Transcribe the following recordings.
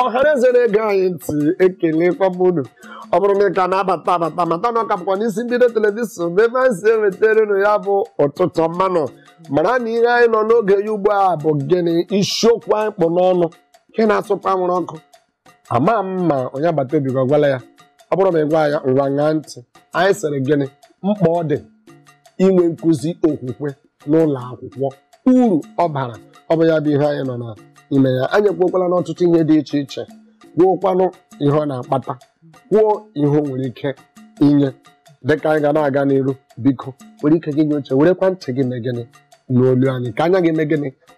ọhaneze na-ege anyị ntị ekelekwa m unu ọ bụrụ na ị ka na-abata abata mata na ọ ka bụkwa n'isi mbido telivishọn bụ ebe anyị si ewetara unu ya bụ ụtụtụ ọma nụ mara na ihe anyị nọ n'oge ya ugbu a bụ gịnị isiokwu anyị kpụ n'ọnụ nke na-asụkwa anwụrụ ọkụ ama m ma onye agbata obi gị ọ gwala ya ọ bụrụ ma ị gwa ya ngwa ṅaa ntị anyị sịrị gịnị mkpa ọ dị inwe nkụzi okwukwe n'ụlọ akwụkwọ uru ọ bara ọ bụ ya bụ ihe anyị nọ n'ime ya anyị ekwuokwala n'ọtụtụ ihe dị iche iche kwuokwanụ ihe ọ na-akpata kwuo ihe o nwere ike inye dịka anyị ga na-aga n'iru biko were ike gị nye uche werekwa ntị gị mee gịnị n'olu anyị ka anya gị mee gịnị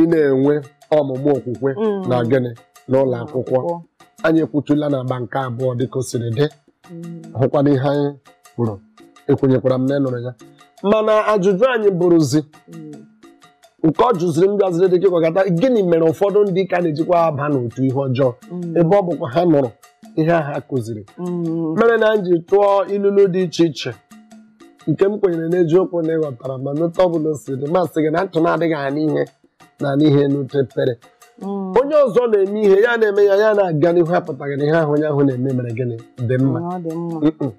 ị na-enwe ọmụmụ okwukwe Mm. na gịnị n'ụlọ akwụkwọ anyị ekwutula n'agba nke abụọ dịka o siri dị Mm. hụkwana ihe anyị kwuru ekwenyekwara m na ị nụrụ ya mana ajụjụ anyị bụrụzi Mm. nke ọ jụziri m bịaziri dịka ị kọgata gịnị mere ụfọdụ ndị ka na-ejikwa aba n'otu ihe ọjọọ Mm. ebe ọ bụkwa ha nụrụ ihe ahụ a kụziri Mm. mere na m ji tụọ ilulu dị iche iche nke m kwenyere n'eziokwu na ị ghọtara ma n'otu ọ bụla o si dị m asị gị na ntị na-adịghị anụ ihe na-anụ ihe n'ute ekpere Mm. onye ọzọ na-eme ihe ya na-eme ya ya na-aga n'ihu apụtaghị na ihe ahụ onye ahụ na-eme mere gịnị dị mma Ọ dị mma. Mm-mm.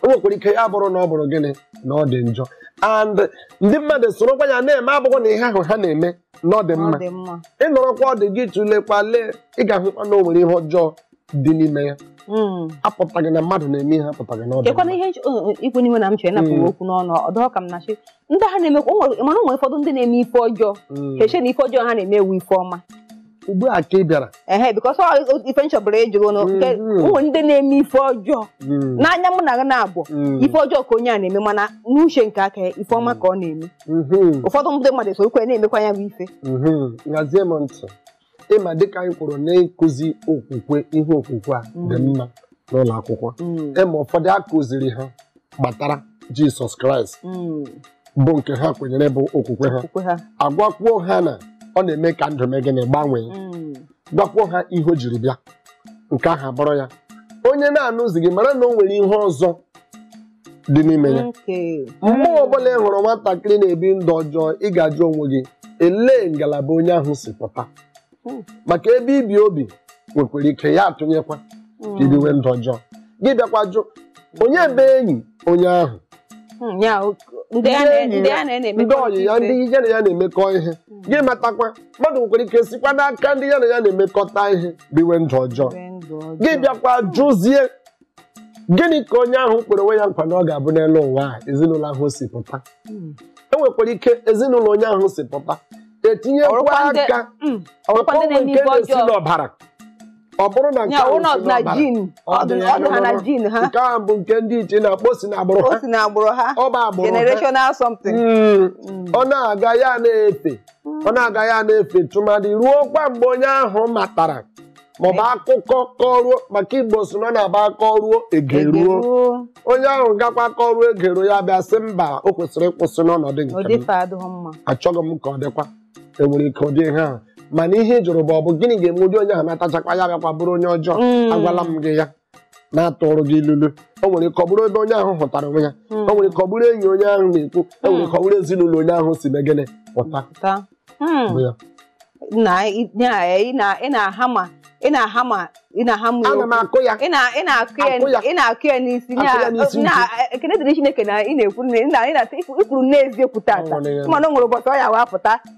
o nwekwara ike ya bụrụ na ọ bụrụ gịnị na ọ dị njọ and ndị mmadụ sorokwa ya na-eme abụghị na ihe ahụ ha na-eme na ọ dị Ọ mma dị mma. ị nọrọkwa ọdụ gị tụlekwa lee ị ga-ahụkwa na o nwere ihe ọjọọ dị n'ime ya hmm. apụtaghị na mmadụ na-eme ihe apụtaghị na ọ dị kekwanụ ihe i kwu n'ime na m chere napụ gị hmm. okwu n'ọnụ ọdọ ka m na-achị ndị ha na-emekwa mana ụmụ ụfọdụ ndị na-eme ife ọjọọ hmm. ha eche na ife ọjọọ ha na-eme wụ ife ọma ugbu a ka ị bịara ehe because ife m chọbụrụ ịjụrụ ụnụ nke ụmụ ndị na-eme ife ọjọọ n'anya mụ na gị na-abụ ife ọjọọ ka onye a na-eme mana n'uche nke aka ife ọma ka ọ na-eme ụfọdụ ndị mmadụ sokwa ya na-emekwa ya bụ ife ị ma dịka anyị kwuru n'ịkụzi okwukwe ihe okwukwe a dị mm. mma n'ụlọ akwụkwọ ị ma mm. ụfọdụ a kụziri ha gbatara jisọs kraịst mm. bụ nke ha kwenyere bụ okwukwe ha agwakwuo ha na ọ na-eme ka ndụ mee gịnị gbanwee gwakwuo ha ihe o jiri bịa nke ahụ abụrụ ya onye na-anụzi gị mara na o nwere ihe ọzọ dị n'ime ya Okay. mgbe ọbụla ị hụrụ nwatakịrị na-ebi ndụ ọjọọ ị ga-ajụ onwe gị elee ngalaba onye ahụ si pụta Mm. maka ebe i bi obi nwekwara ike ya atụnyekwa ka i biwe ndụ ọjọọ gị bịakwa jụ onye bụ enyi onye ahụ Mm, ya, o- ndị a na- ndị a na- na-eme ndị ọyị ya ndị ya na ya na-emekọ ihe gị matakwa mmadụ nwekwara ike sikwa n'aka ndị ya na ya na-emekọta ihe biwe ndụ ọjọọ Biwe ndụ ọjọọ. gị bịakwa jụzie gịnị ka onye ahụ kwere onwe ya nkwa na ọ ga-abụ n'elu ụwa a ezinụlọ ahụ si pụta Mm. e nwekwara ike ezinụlọ onye ahụ si pụta etinyekwa Ọrụkwa ndị- aka Mm. ọkwa ndị ọkọnwe na-eme nke ibe na-esi ọjọọ. n'ọbara ọ bụrụ na nke Ya, ahụ ụlọ si na n'ọbara, jin ọ dị ya ọdụ ha na n'ọbara. jin ha nke ahụ bụ nke ndị ichie na-akpọ si n'agbụrụ o ha si na agbụrụ ha ọ bụ agbụrụ ha generational something Mm. Mm. ọ na-aga ya na-efe ọ na-aga ya na-efe tụmadị ruo kwa mgbe onye ahụ matara maọbụ akụkọ kọruo maka Igbo sị na ọ na-abụ akọruo egeruo Egeruo. onye ahụ gakwa kọruo egeruo ya bịa sị mba o kwesịrị ịkwụsị n'ọnọdụ nke m Odife adịghị mma. achọghị m ka ọ dịkwa enwere ike ụdị ihe ahụ mana ihe ị jụrụ bụ ọ bụ gịnị ga-eme ụdị onye ahụ natachakwa ya bịakwa bụrụ onye ọjọọ Mm. agwala m gị ya na-atụrụ gị ilulu o nwere ike ọ bụrụ ebe onye ahụ hụtara onwe ya hmm. o nwere ike ọ bụrụ enyi onye ahụ na-ekwu o nwere ike ọ bụrụ ezinụlọ onye ahụ si mee gịnị pụta ị na-aha ma ị na-aha ma ana m akụ ya ị na-akụ ya ị na-akụ ya n'isi ekene dịrị Chineke na ị na-ekwu nne ị na-ekwuru n'eziokwu tata mana o nwere ụbọchị ọ ya wee pụta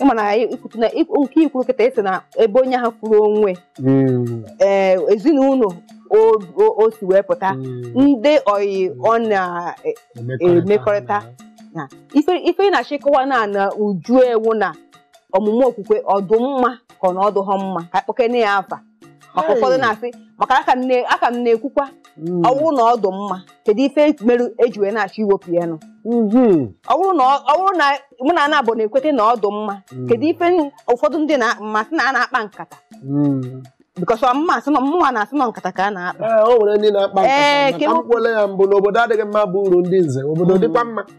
ịma na anyị ikwutu na ik- nke ikwuru kịta ị sị na ebe onye ahụ fụrụ onwe Mm, ee ezinụlọ o- o- o si wee pụta mm. ndị oyi ọ na-emekọrịta. na ife ife ị na-achọ ịkọwa na na uju ya wụ na ọmụmụ okwukwe ọ dụ mma ka ọ na ọ dụghọ mma ka a kpọkene ya afa maka ụfọdụ na-asị maka dịka m na-ekwukwa hmm. ọwụrụ na ọdụ mma kedu ife merụ eji wee na-achọ iwepụ ya nụ hmm. ọwụrụ na mụ na gị naabọ na-ekweta na ọdụ mma hmm. kedu ife ụfọdụ ndị na-amasị na a na-akpa nkata because mma asị nọ mụnwa na-asị nọ nkata ka a na-akpa ee eh, o nwere ndị na-akpa nkata maka ekwukwala ya mbụ na obodo adịghị mma bụ uru ndị nze obodo dịkwa mma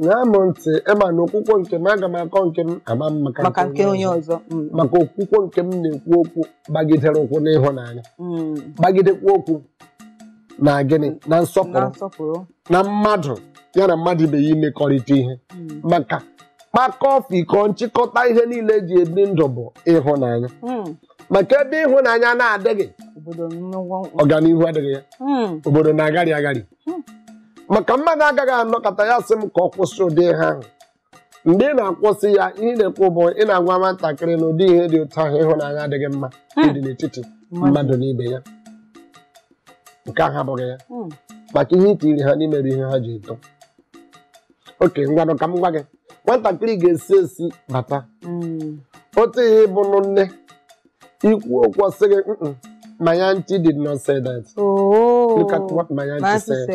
ṅaa m ntị ị ma na okwukwe nke m aga m akọ nke m ama m maka maka nke onye ọzọ Mm, maka okwukwe nke m na-ekwu okwu gbagidere ụkwụ n'ịhụnanya mm, gbagidekwa ụkwụ na gịnị na na nsọpụrụ nsọpụrụ na mmadụ ya na mmadụ ibe ya imekọrịta ihe Mm, maka kpakọọ fikọọ nchịkọta ihe niile eji ebi ndụ bụ ịhụnanya mm, maka ebe ịhụnanya na-adịghị obodo nnukwu ọganihu adịghị ya Mm, obodo na-agharị agharị maka mmadụ agaghị anọkọta ya sị m ka ọ kwụsị ụdị ihe ahụ mgbe ị na-akwụsị ya ihe ị na-ekwu bụ ị na-agwa nwatakịrị na ụdị ihe dị otu ahụ ịhụnanya adịghị mma ịdị n'etiti mmadụ na ibe ya nke ahụ abụghị ya Hmm. maka ihe i tiri ha n'ime bụ ihe ha ji eto okay ngwanụ ka m gwa gị nwatakịrị ga-esi ezi bata Hmm. otu ihe ị bụ nụ nne ikwu okwu sị gị my auntie did not say that oh. look at what my auntie said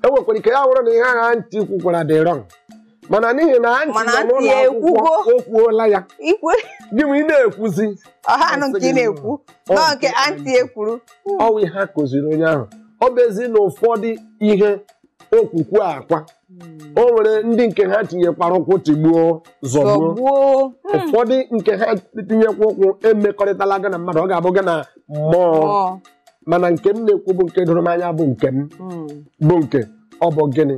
e nwekwara ike ya wụrụ na ihe ahụ auntie kwukwara dị wrong mana n'ihi na auntie nọ n'ụlọ akwụkwọ o kwuola ya gị ma ị na-ekwuzi ọha anụ nke ị na-ekwu nọ nke auntie kwuru ọ wụ ihe a kụziri onye ahụ ọ bụ ezi na ụfọdụ ihe okwukwe a kwa o nwere ndị nke ha tinyekwara ụkwụ tigbuo zọgbuo zọgbuo Hmm. ụfọdụ nke ha tinyekwa ụkwụ emekọrịtala gị na mmadụ ọ ga-abụ gị na mmụọ Ọ. mana nke m na-ekwu bụ nke doro m anya bụ nke m Hmm. bụ nke ọ bụ gịnị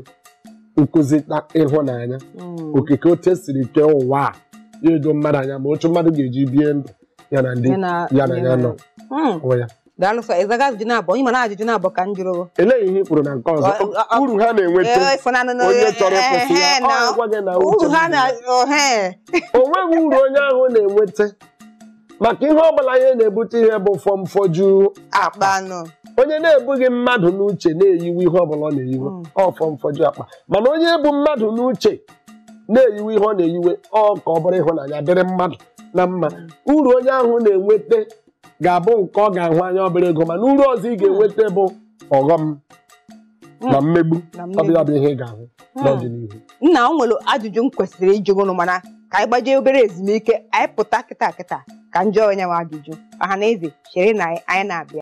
nkụzi na ịhụnanya Hmm. okike otu e siri kee ụwa a ya edoo mmadụ anya ma otu mmadụ ga-eji bie ndụ ya na ndị Ya na- ya na ya nọ Hmm. onwe ya daalụ sọ ị zaghị ajụjụ naabọ ị ma na ajụjụ naabọ ka m jụrụ gị. elee ihe ị kwuru na nke ọzọ Ọ- ọ- ọ- uru ha na-enweta Ee, ịfụnanụ na- onye chọrọ ịkwụsị ya Ehe, ọ na- gwa gị na uche uru ha dị na na ohe o nweghị uru onye ahụ na-enweta maka ihe ọ bụla ihe na-ebute ihe bụ fọmfọju akpa nụ onye na-ebughị mmadụ n'uche na-eyiwe ihe ọbụla ọ na-eyiwe Mm. ọ fọmfọju akpa mana onye bu mmadụ n'uche na-eyiwe ihe ọ na-eyiwe ọ ka ọ bụrụ ịhụnanya dịrị mmadụ na mma uru onye ahụ na-enweta ga-abụ nke ọ ga-ahụ anya obere ego mana uru ọzọ ị ga-enweta bụ ọghọm na mmegbu ọ bụ ya bụ ihe ị ga-ahụ Hmm. n'ọdịnihu nna o nwere ajụjụ m kwesịrị ịjụ gị nụ mana ka anyị gbajee obere ezumike anyị pụta kịta kịta ka m jụọ onye nwe ajụjụ ọha na eze cherenụ anyị anyị na-abịa